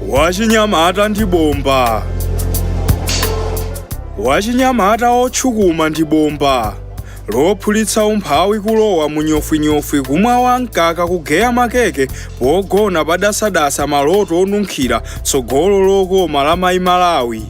wachinyamata ndi bomba wachinyamata otchukuma ndi bomba lophulitsa umphawi kulowa munyofwinyofwi kumwa wamkaka kugeya makeke pogona padasadasa maloto onunkhira tsogolo lokoma la mayi malawi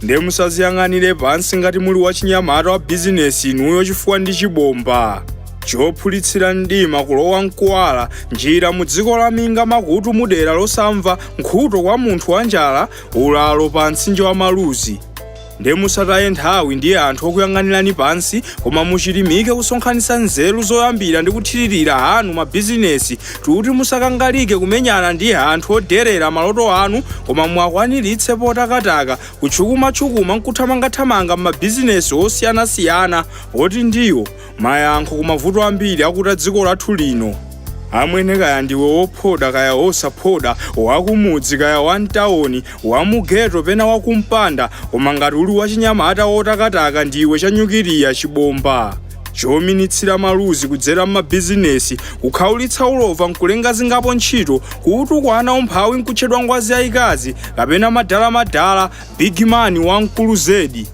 nde musaziyang'anire pansi ngati muli wachinyamata wa bizinesi inuyo chifukwa ndi chibomba chophulitsira mdima kulowa mkuwala njira mu dziko la minga makutu mudera losamva nkhuto kwa munthu wanjala ulalo pa mtsinje wa maluzi Nde musataye nthawi ndi anthu okuyang'anirani pansi, koma muchirimike kusonkhanitsa nzeru zoyambira ndi kuthiririra anu mabizinesi, tuti musakangalike kumenyana ndi anthu oderera maloto anu, koma muwakwaniritse potakataka, kutchukumatchukuma nkuthamangathamanga m'mabizinesi osiyanasiyana, poti ndiwo mayankho ku mavuto ambiri akuta dziko lathu lino amwene kaya ndiwe wophoda kaya wosaphoda wakumudzi kaya wamtawoni wamugeto pena wakumpanda koma ngati uli wachinyamata wotakataka ndiwe chanyukiliya chibomba chominitsira maluzi kudzera m'mabizinesi kukhaulitsa ulova nkulenga zingapo ntchito kuutukwana umphawi nkutchedwa ngwazi yayikazi kapena madalamadala big man wamkulu zedi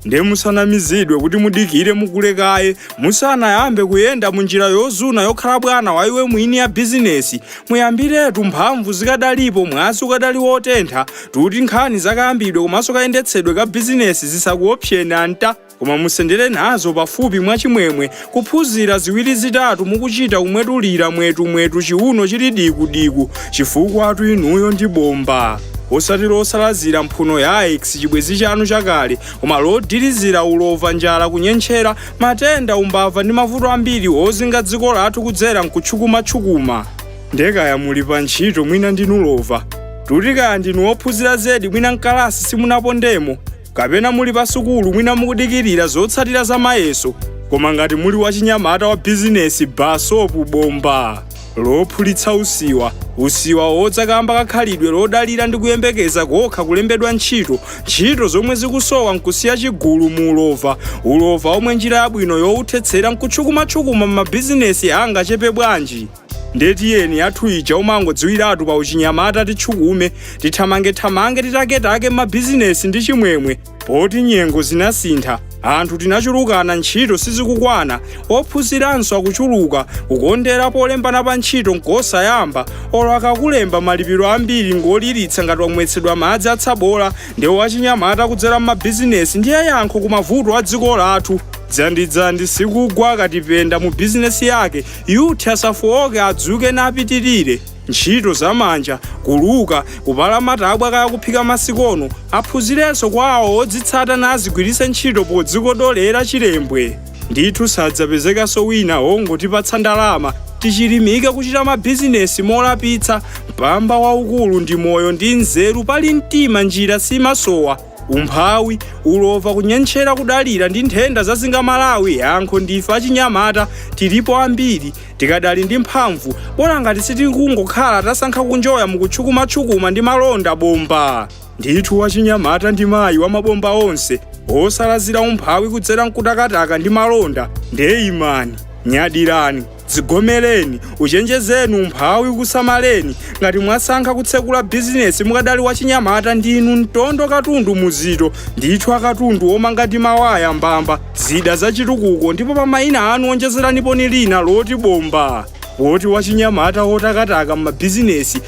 ndiye musanamizidwe kuti mudikire mukule kaye musanayambe kuyenda mu njira yozuna yokhala bwana wa iwe mwini ya bizinesi muyambiretu mphamvu zikadalipo mwazi ukadali wotentha tuti nkhani zakayambidwe komanso kayendetsedwe ka bizinesi zisakuopseni anta koma musendere nazo pafupi mwachimwemwe kuphunzira ziwiri zitatu mukuchita kumwetulira mwetu mwetu chiuno chili diku diku chifukwatu inuyo ndi bomba osati losalazira mphuno ya ex chibwezi chanu chakale koma lodilizira ulova njala kunyentchera matenda umbava ndi mavuto ambiri ozinga dziko lathu kudzera mkutchukumatchukuma ndekaya muli pa ntchito mwina ndinu lova tuti kaya ndinu ophunzira zedi mwina mkalasi simunapondemo kapena muli pa sukulu mwina mukudikirira zotsatira za mayeso koma ngati muli wachinyamata wa bizinesi basopu bomba lophulitsa usiwa usiwa wodza kamba ka khalidwe lodalira ndi kuyembekeza kokha kulembedwa ntchito ntchito zomwe zikusowa nkusiya chigulu mu ulova ulova omwe njira yabwino yowuthetsera nkutchukumatchukuma m'mabizinesi angachepe bwanji Ndiye tiyeni athu inja umangodziwiratu pa uchinyamata titchukume tithamangethamange titaketake m'mabizinesi ndi chimwemwe poti nyengo zinasintha anthu tinachulukana ntchito sizikukwana ophunziranso akuchuluka kukondera polembana pa ntchito nkosayamba olo akakulemba malipiro ambiri ngoliritsa ngati wamwetsedwa madzi atsabola ndiye uchinyamata kudzera m'mabizinesi ndiye yankho ku mavuto a dziko lathu dzandidzandi sikugwa akatipenda mu bizinesi yake Youth asafooke adzuke napitirire, ntchito za manja, kuluka, kupala matabwa kaya kuphika masikono, aphunzirenso kwa awo odzitsata nazigwiritse ntchito podzikodolera chilembwe. Ndithu sadzapezekanso wina wongotipatsa ndalama, tichilimike kuchita mabizinesi molapitsa, mpamba waukulu ndi moyo ndi nzeru pali mtima njira simasowa. Umphawi, ulova, kunyentchera, kudalira ndi nthenda zazinga Malawi, yankho ndife achinyamata, tilipo ambiri, tikadali ndi mphamvu, bola ngati sitikungokhala tasankha kunjoya mu kutchukumatchukuma ndi malonda bomba. Ndithu wachinyamata ndi mayi wa mabomba onse, wosalazira umphawi kudzera nkutakataka ndi malonda, nde imani, nyadirani, Dzigomereni, uchenjezeni umphawi ukusamaleni, ngati mwasankha kutsekula business mukadali wachinyamata ndinu mtondo katundu muzito ndithu akatundu omanga ndi mawaya mbamba zida zachitukuko ndipo pa maina anu onjezeraniponi lina loti bomba poti wachinyamata wotakataka m'mabizinesi